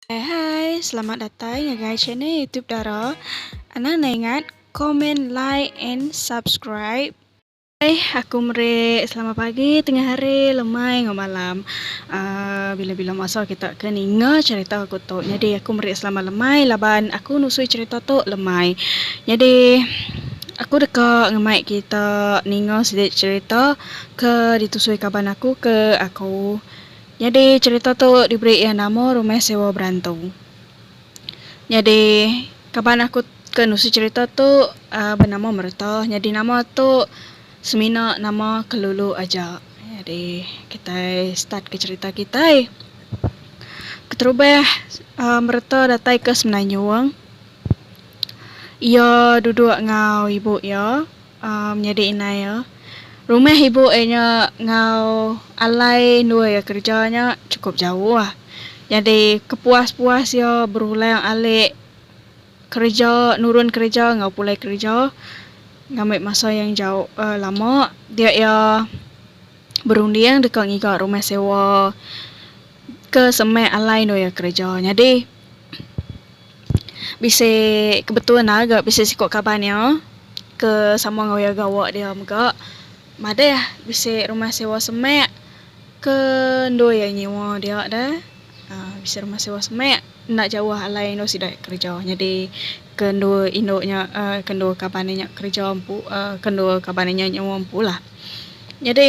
Hai hai, selamat datai ngagai channel YouTube Dara. Anang nda ingat comment, like and subscribe. Hai, aku meri selamat pagi, tengah hari, lemai enggau malam. Aaa bila-bila masa kita ke ninga cherita aku tu. Nyadi aku meri selamat lemai laban aku nusui cherita tu lemai. Nyadi aku deka ngemai kita ninga siti cherita ke ditusui kaban aku ke aku. Nyadi cherita tu diberi iya nama Rumah Sewa Berantu. Nyadi kaban aku ke nusi cherita tu benama Merta. Nyadi nama tu semina nama kelulu aja. Nyadi kitai start ke cherita kitai. Keterubah Merta datai ke Semenanjung. Iya duduk enggau ibu iya. Menyadi indai iya, rumah ibu inya enggau alai endur iya kereja nya chukup jauh. Nyadi kepuas-puas iya berulang alik kereja, nurun kereja enggau pulai kereja ngambi masa yang jauh uhh lama dia iya berunding deka ngiga rumah sewa ke semak alai endur iya kereja. Nyadi. Bisi ke betul ne ga bisi siko kaban iya ke sama enggau iya gawa dia mega madeh bisi rumah sewa semek ke endu iya nyewa dia de uhh bisi rumah sewa semek enda jauh alai endu sida kereja nyadi ke endu indu nya uhh ke endu kaban inya kereja empu uhh ke endu kaban inya nyewa empu lah nyadi.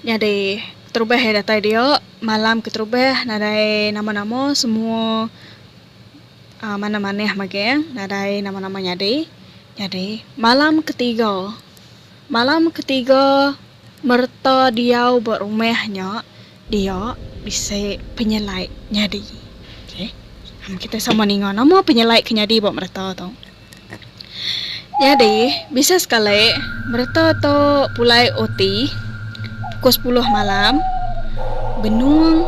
Nyadi keterubah iya datai diau malam keterubah nadai nama nama semua aaa manah manah mageh nadai nama nama nyadi nyadi malam ketiga malam ketiga mereta diau ba rumah nya dia bisi penyelai nyadi okay kitai sama ninga nama penyelai ke nyadi ba mereta tu. Nyadi, bisi sekali, bereta tu pulai uti pukul sepuluh malam, benung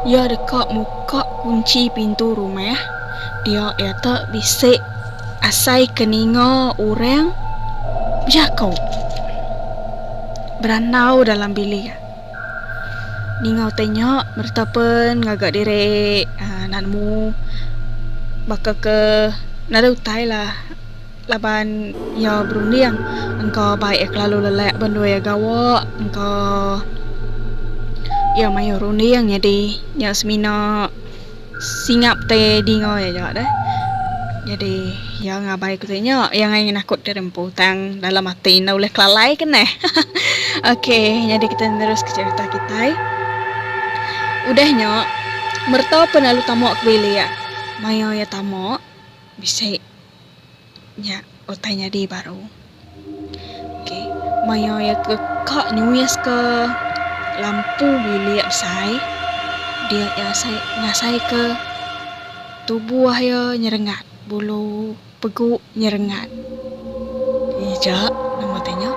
iya deka muka kunchi pintu rumah dia iya tu bisi asai ke ninga orang bejaku berandau dalam bilik. ninga utai nya bereta pen ngaga diri aaa enda nemu baka ke nadai utai lah laban iya berunding engka bai iya kelalu lelak banding iya gawa engka iya mayuh runding nyadi iya semina. Singap te dinga iya nya deh. Nyadi iya ngabai ku te nya iya ngai ngenakut diri empu tang dalam ati enda ulih kelalai ke neh. Okey nyadi kita nerus ke cerita kitai. Udah nya merta pun lalu tama ke bilik. Maya iya tama bisi. Nya utai nyadi baru. Ok maya iya ke ka nyuis ke lampu bilik besai dia iya asai ngasai ke tubuh iya nyerengat bulu pegu nyerengat ija nama utai nya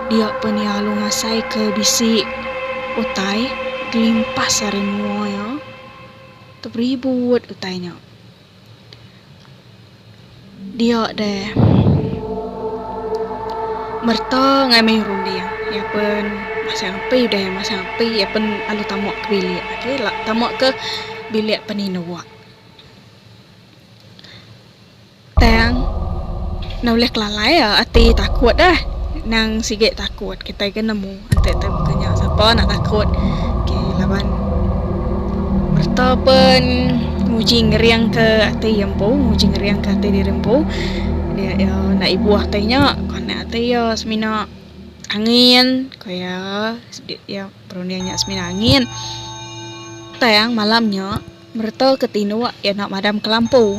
dia pun iya lalu ngasai ke bisi utai kelimpas ari mua iya teberibut utai nya. Dia deh. Merta ngai mayuh runding. Iya pun masang api udah iya masang api iya pun lalu tamu ke bilik agi tamu ke bilik pan indu. Tang nulih kelalai ati takut eh nang sigi takut kitai ke nemu. Enti tu buka nya sapa nak takut. Okay laban merta pun nguji ngering ke ati iya empu, nguji ngering ke ati diri empu. Dia iya enda ibuh ati nya konak ati iya semina angin ku iya sidi iya perunding nya semina angin. Tang malam nya. Mereta ke tinuk iya enda madam ke lampu.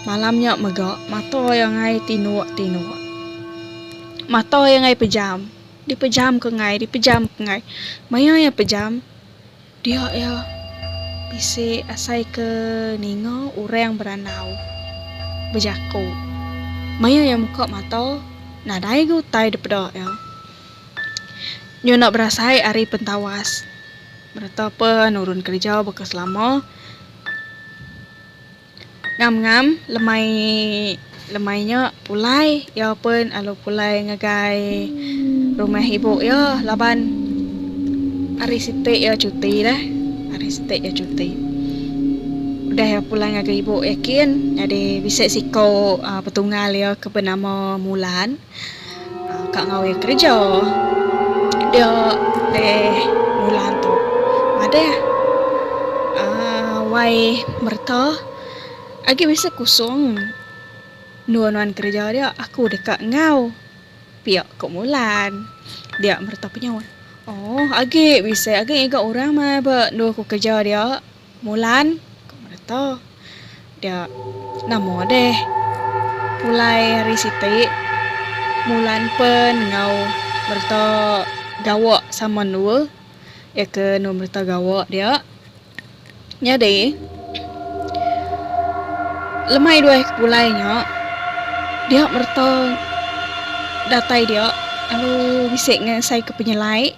Malam nya mega mata iya ngai tinuk tinuk. Mata iya ngai pejam. Di pejam ke ngai di pejam ke ngai. Maya iya pejam dia iya bisi asai ke ninga orang berandau bejaku. Maya iya muka mata nadai ga utai dipeda iya. Nyu enda berasai ari pentawas. Bereta pe nurun kereja baka selama. Ngam ngam lemai lemai nya pulai iya pe lalu pulai ngagai rumah ibu iya laban hari siti iya cuti deh hari siti iya cuti udah iya pulai ngagai ibu iya kin nyadi bisi siko petunggal iya ke benama Mulan. Ka ngawi kereja dia leh bulan tu madah aaa wai mereta agi bisi kusung endur nuan kereja dia aku deka enggau pia ko Mulan dia mereta penyaut oh agi bisi agi ngiga orang meh ba endur ku kereja dia. Mulan, ku Mereta. Dia, nama deh. Pulai hari siti, Mulan pen enggau Mereta gawa sama endua. Iya ke enu Mereta gawa dia. Nyadi, lemai duai ke pulai nya, dia Mereta datai dia lalu bisi ngesaika penyelai.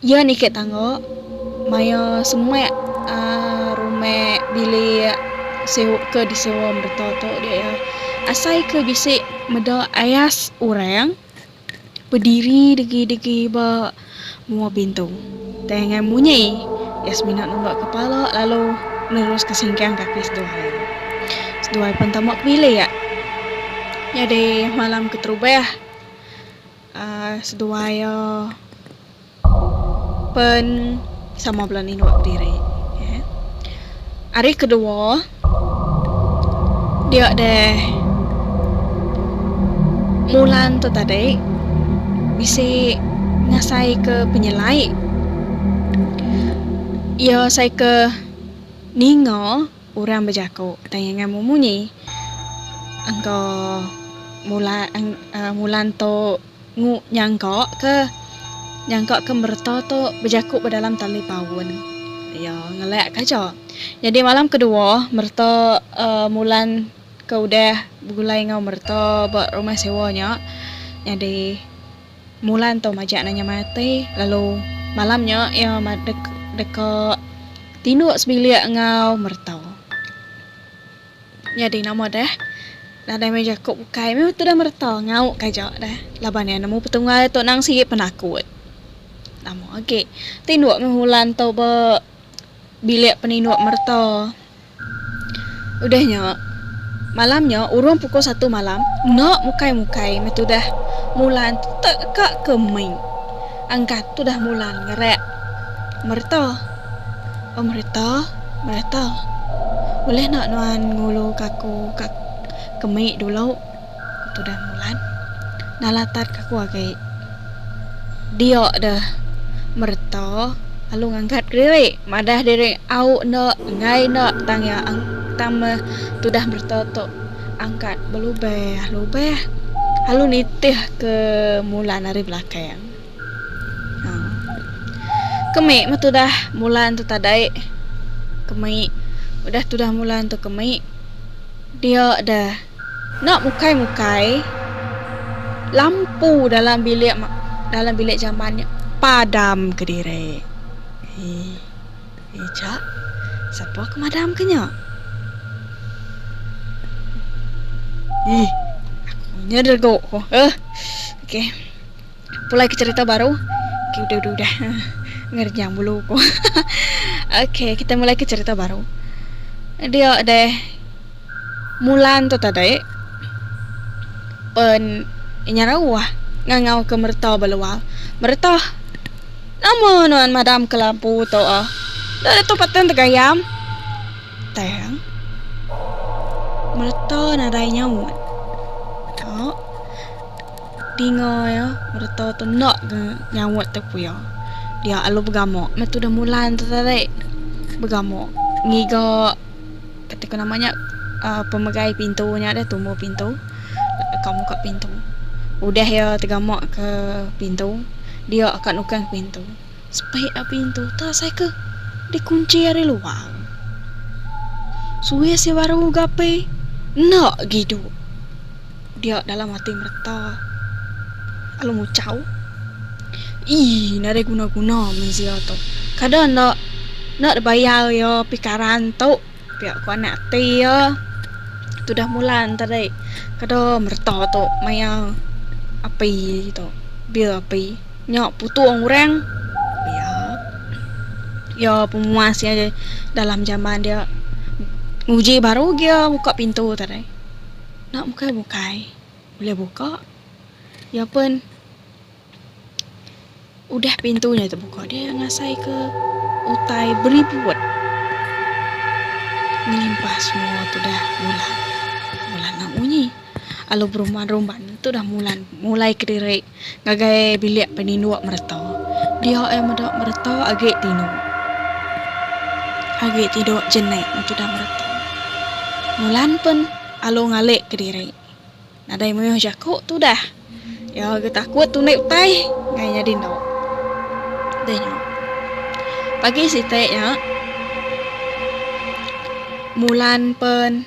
Iya niki tangga maya semak rumah bilik ke disewa mereta tu diak asai ke bisi meda ais orang bediri degi degi ba mua pintu tang ngan munyi iya semina nemba kepala lalu nerus ke singkang kaki seduai seduai pen tama ke bilik nyadi malam keterubah. Seduai iya pen sama bala nindu diri. Ari kedua dia deh Mulan tu tadi bisi ngasai ke penyelai iya asai ke ninga. Urang bejaku, Tanya enggau mu munyi engka mula mulan tu ngu nyangka ke nyangka ke mereta tu bejaku ba dalam tali paun iya ngelak ka aja. Nyadi malam kedua mereta uhh mulan ke udah begulai enggau mereta ba rumah sewa nya nyadi. Mula entu majak nanya mati, lalu malam nya iya deka tinduk sebilik enggau mereta. Nyadi nama deh nadai meh jaku bukai meh tudah mereta ngau ka aja deh laban iya nemu petunggal tu nang sigi penakut. Nama agi tinduk meh Mulan tu ba bilik peninduk mereta. Udah nya, malam nya urung pukul satu malam, enda mukai-mukai meh tudah Mulan teka ke mih. Angkat tudah Mulan ngerak, Mereta. Oh mereta, mereta. Ulih enda nuan ngulu ka aku ka mih dulu? ku tudah Mulan. Nalatat ka aku agi. Dia deh mereta lalu ngangkat diri madah diri au enda enggai enda tang iya tang meh tudah mereta tu angkat belubeh lubeh lalu nitih ke Mulan ari belakang. Aaa. Kemi meh tudah Mulan tu tadai kemi udah tudah Mulan tu kemi dia deh. Enda mukai-mukai, lampu dalam bilik dalam bilik jaman nya padam kediri. Eii, eja, sapa ke madamka nya? Eii, aku nya rega ko. Eii, okey. Pulai ke cerita baru. Okay, udah, udah, udah. Ngerjang bulu ko. okay, kita mulai ke cerita baru. Dia deh. Mulan tu tadi. Pen inya rawah ngangau ke merta belual. Merta. Nama nuan madam ke lampu tu ah? Dah tu patan tegayam. Tang. Merta nadai nyaut. Dinga iya, mereta tu enda ga nyaut tepu iya. Dia alu begama meh tudah Mulan tu tadi. Begama ngiga kati ku nama nya uhh pemegai pintu nya deh tumbuh pintu ka muka pintu. Udah iya tegama ke pintu dia ka nukang pintu. Sepit a pintu tu asai ke dikunchi ari luar. Suwis iya baru ga apai enda gidu. Dia dalam ati mereta lalu ngucau, Ii nadai guna-guna mensia tu. Kada enda enda dibayar iya pikaran tu, pia ku anak ati iya. Tudah Mulan tadi kada mereta tu maya api tu bil api nya putung orang pia iya pemuas iya dalam jamban dia nguji baru gia muka pintu tadi. Nak bukai bukai ulih buka iya pun udah pintu nya tebuka dia ngasai ke utai beribut ngelimpah semua tu dah mulan mulan nak munyi alu berumban rumban tu dah mulan mulai kediri Ngagai bilik peninduk mereta. Dia ai meda mereta agi tinduk. Agi tinduk jenik meh tudah mereta. Mulan pen alu ngalik kediri. Nadai mayuh jaku tudah. Iya agi takut tunik utai ngai nya dinduk. Deh nya. Pagi siti nya Mulan pen.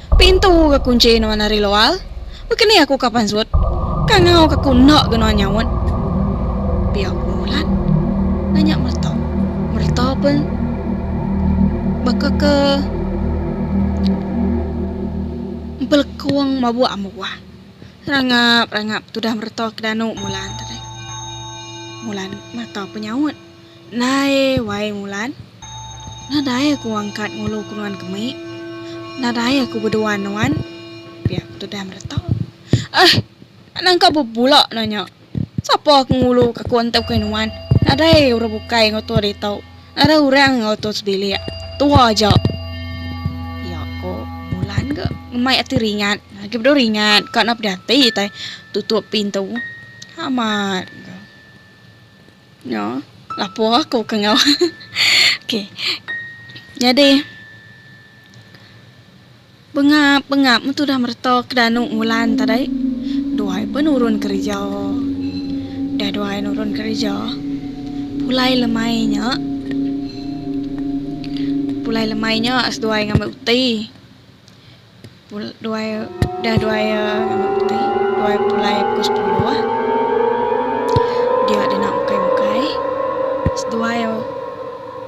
Pintu ke kunci nuan ari luar. Baka ni aku ka pansut. Ka ngau ka ku enda ga nuan nyaut. Pia ku Mulan. Nanya Merta. Merta pun baka ke empelekung mabuk ambuh. Rangap rangap tudah Merta ke danu Mulan tadi. Mulan Merta pun nyaut. Nadai wai ngulan. Nadai aku ngangkat ngulu ke nuan kemi. Nadai aku beduan nuan. Pia ku tudah mereta. Eh! Enda nangka bebula nanya. Sapa ke ngulu ke aku enti bukai nuan. Nadai orang bukai enggau tua ditu. Nadai orang enggau tua sebilik. Tua aja. Pia ku Mulan ke ngemai ati ringat. Agi bedau ringat ka enda peda ati utai tutup pintu. Amat ke. Nya lapor aku ke enggau. Okey. Nyadi bengap bengap metu dah mereta ke danu ngulan tadi. Duai pun nurun kerja. Dah duai nurun kerja. Pulai lemai nya. Pulai lemai nya seduai ngambi uti. duai udah duai ti duai pulai pukul sepuluh dia dina ukai ukai seduai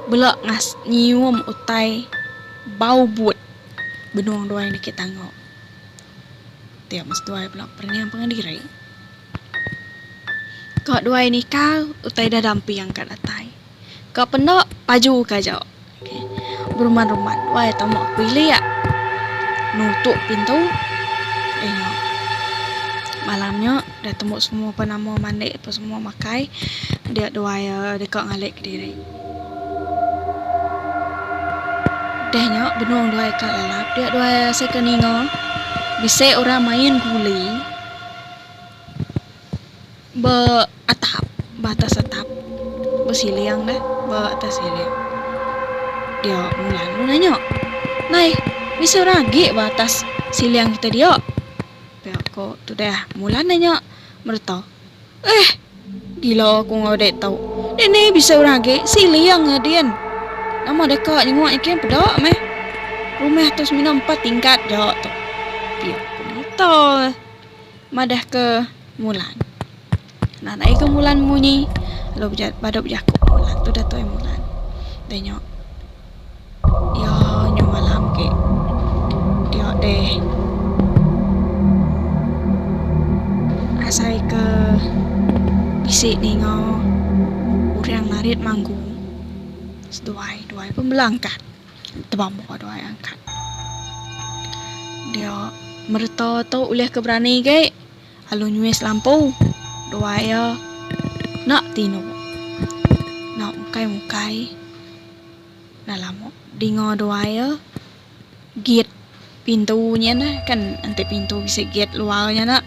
bela ngas nyium utai bau but benung duai enda kaik tango ti amat seduai bela pereang pangan diri ka duai nikal utai ida damping ka datai. Ka penda paju ka aja. Berumat-rumat wai tama ke bilik. Nutup pintu. Eh nya. Malam nya dah tembu semua pan amu mandi apa semua makai. Dia dua iya deka ngalik kediri. Udah nya benung dua iya ka lalap. Dia dua iya asai ka ninga bisi orang main guli. Ba atap, ba atas atap. Ba siling dah, ba atas siling. Dia Mu lalu nanya. Nai, bisi orang agi ba atas siling kita dia? Pia ko Tudah Mulan nanya mereta. Eh! Gila aku enggau dek tu. Dek ni bisi orang agi siling nya din. Nama deka nyenguk nya kin peda meh. Rumah tu semina empat tingkat ja tu. Pia ko mereta. Madahka Mulan. Nan ai ke Mulan munyi lalu badu bejaku Mulan tu Dato Mulan. Deh nyo iyo nyo malam ke diyo deh asai ke bisi ninga urang narit manggung seduai duai pun belangkat. Tebamuk tu ai angkat. Dia mereta tu ulih ke berani agi lalu nyuis lampu dua iya enda tinu enda mukai mukai dah lama dinga dua iya gate pintu nya ne kan enti pintu bisi gate luar nya ne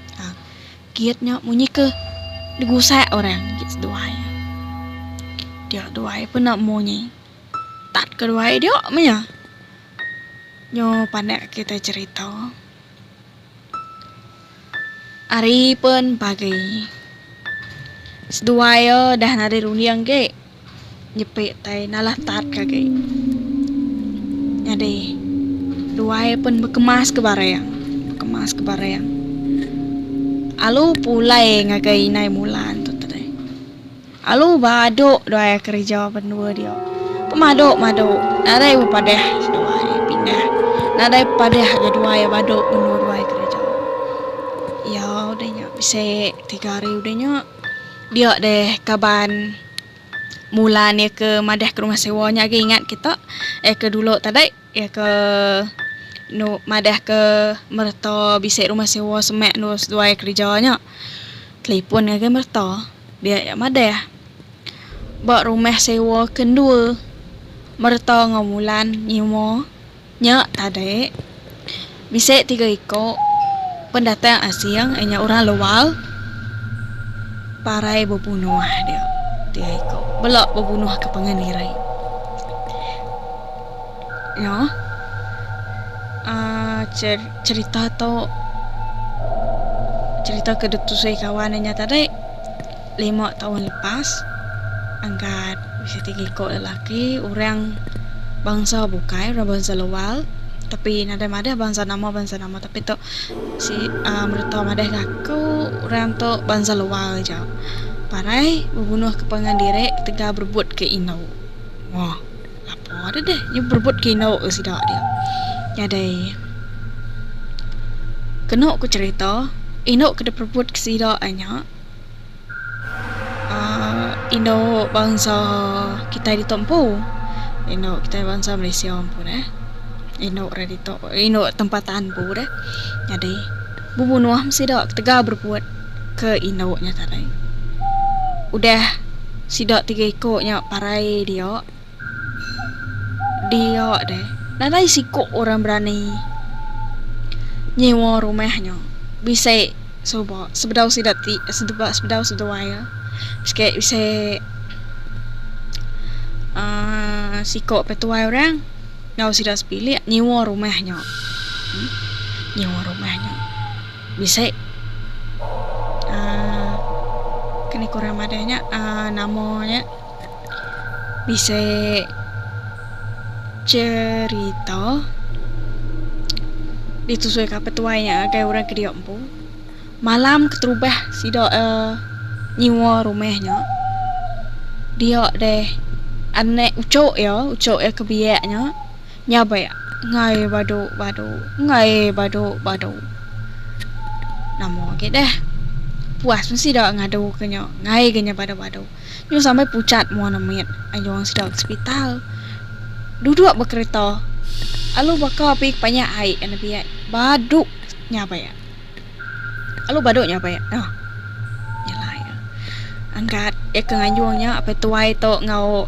gate nya munyi ke digusak orang gate seduai dia duai pun enda munyi. Tat keduai diu menya. Nyu panak kitai cerita. Ari pun pagi. Seduai iya dah nadai runding agi. Nyepi tai nalah tat ke agi. Nyadi duai pun bekemas ke barang. Bekemas ke barang. Alu pulai ngagai inai Mulan tu tadi. Alu badu dua iya kereja bendua dia. Pemadu madu nadai bepadah dua iya pindah. Nadai bepadah ga dua iya badu mendua dua iya kereja. Iya udah nya bisi tiga hari udah nya dia deh kaban Mulan iya ke madah ke rumah sewa nya agi ingat kita iya ke dulu tadi. Iya ke madahka mereta bisi rumah sewa semak endur seduai kereja nya telefon ngagai mereta dia iya madah ba rumah sewa ke endur mereta enggau Mulan nyuma nya tadi. Bisi tiga iku pendatang asing inya orang luar parai bebunuh dia. Tiga iku bela bebunuh ke pangan diri. Nya uhh cerita tu cerita ke ditusui kawan inya tadi. Lima taun lepas, Angkat bisi ti ngiko lelaki orang bansa bukai, orang bansa luar tapi nadai madah bansa nama bansa nama tapi tu si uhh mereta madah ga aku orang tu bansa luar aja. Parai bebunuh ke pangan diri ketegal berebut ke indu. Moh apo deh deh inya berebut ke indu ke sida dia. Nyadai kenu ku cerita indu ke diperebut ke sida nya. aaa indu bansa kitai ditu empu indu kitai bansa malaysia empu ne indu re ditu indu tempatan empu deh nyadi bubuh nuah meh sida ketegal bereput ke indu nya tadi udah sida tiga iku nya parai dia. Dia deh, nadai siku orang berani nyewa rumah nya bisi suba sebedau sida ti sebedau seduai iya. Siki bisi aaa siku pe tuai orang enggau sida sepilik nyewa rumah nya. Nyewa rumah nya bisi aaa keni ku orang madah nya aaa nama nya. Bisi cherita ditusui ka petuai nya ngagai orang ke dio empu. Malam keterubah sida uhh nyewa rumah nya dio deh anak uchok iya, uchok iya ke biak nya nyabek engai badu badu engai badu badu. Nama agi deh puas meh sida ngadu ke nya engai inya badu badu. Nyau sampai pucat mua ne mit aja wang sida ke sepital. Duduk ba kereta alu baka api kepanyak ai enda biak badu nyapai ya. Alu badu nyapai ya. Nah. Yalah ya. Angkat ya ke nganjung nya apai tuai tu enggau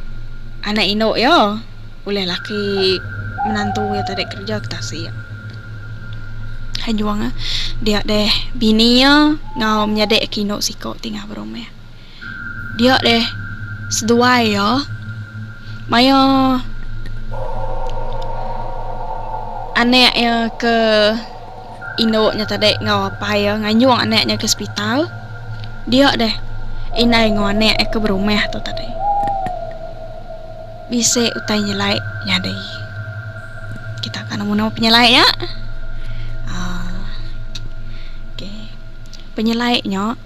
anak indu ya. Ulih laki menantu ya tadi kerja ke tasik. Anjung ah dia deh bini ya enggau menyadi aki indu siko ti ngabar rumah. Dia deh seduai iya maya anak iya ke indu nya tadi enggau apai iya ngayung anak nya ke sepital. Dia deh indai enggau anak iya ke berumah tu tadi. Bisi utai nyelai nyadi. Kita ka nemu nama penyelai iya. aaa Okey. Penyelai nya.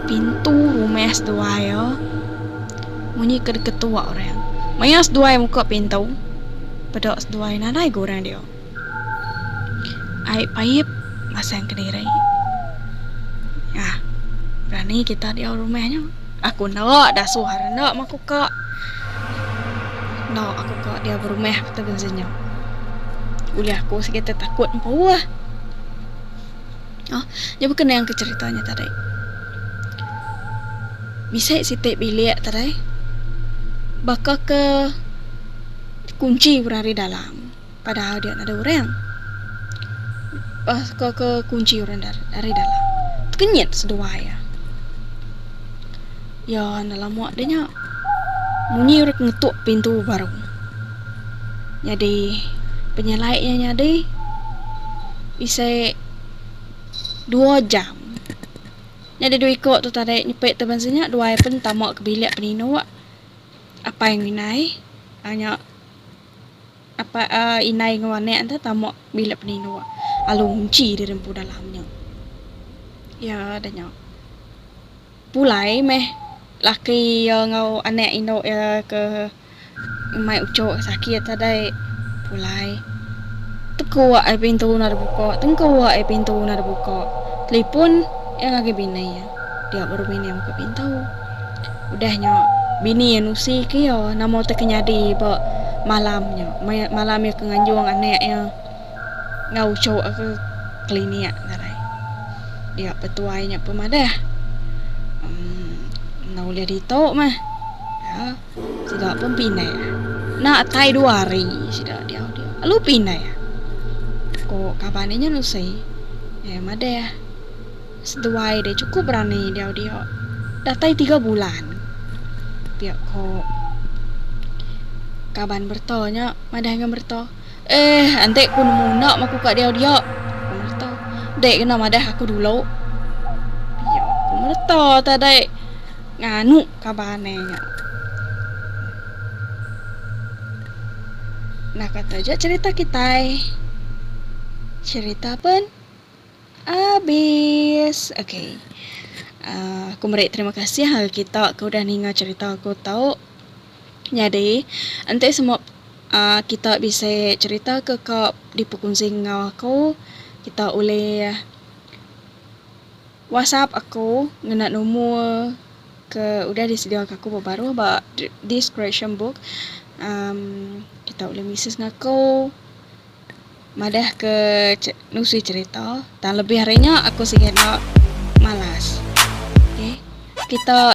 Pintu rumah seduai iya munyi ke diketua orang. Maya seduai muka pintu, peda seduai nadai ga orang dia. Ai pait masang kediri. Nyah, berani kita diau rumah nya. Aku enda dasuh ari enda maku ka. Enda aku ka diau berumah kata bisi nya. Ulih aku sigi tetakut empu ah. Nya baka nang ke cerita nya tadi. Bisi siti bilik tadi baka ke dikunchi orang ari dalam padahal dia nada orang. Baka ke kunchi orang ari dalam. Tekenyit seduai iya. Iya enda lama deh nya munyi orang ke ngetuk pintu baru. Nyadi penyalai iya nyadi bisi. dua jam. Nya deh dua iko tu tadi nyepi tu bansa nya dua ai pen tama ke bilik peninok apai ngan inai a nya apai aaa inai ngan anek enta tama bilik peninok lalu ngunchi diri empu dalam nya. Iya deh nya. Pulai meh laki iya enggau anek indu iya ke. Umai ucho ke sakit ati dai pulai. Tekua ai pintu enda dibuka, tengkua ai pintu enda dibuka. Telipon iya ngagai bini iya. Dia baru bini iya buka pintu. Udah nya bini iya nusi ke iya nama utai ke nyadi ba malam nya. Malam iya ke nganjung anak iya enggau ucho iya ke klinik ngagai. Dia petuai nya pemadah. Enda ulih ditu mah. Sida pun pindah. Enda atai dua hari sida diau dia lalu pindah. Ko kaban inya Nusi, eh madah seduai deh chukup berani diau dia. Datai tiga bulan. Pia ko kaban merta nya madah enggau merta. Eh enti ku nemu enda maku ka diau dia. Ku merta. Dek kena madah aku dulu. Pia ko merta tadai nganu. kaban ne nya. Nah ka taja cherita kitai. Cherita pun abis. Okay. Uh, aku meri terima kasih ngagai kita ke udah ninga cherita aku tau. Nyadi, enti semua uh, kita bisi cherita ke ka dipekunsi enggau aku, kita ulih WhatsApp aku ngena numur ke udah disediaka aku ba baruh ba this creation book uhh kita ulih mises ngaku madahka nusi cherita tang lebih ari nya aku sigi enda malas okay kita.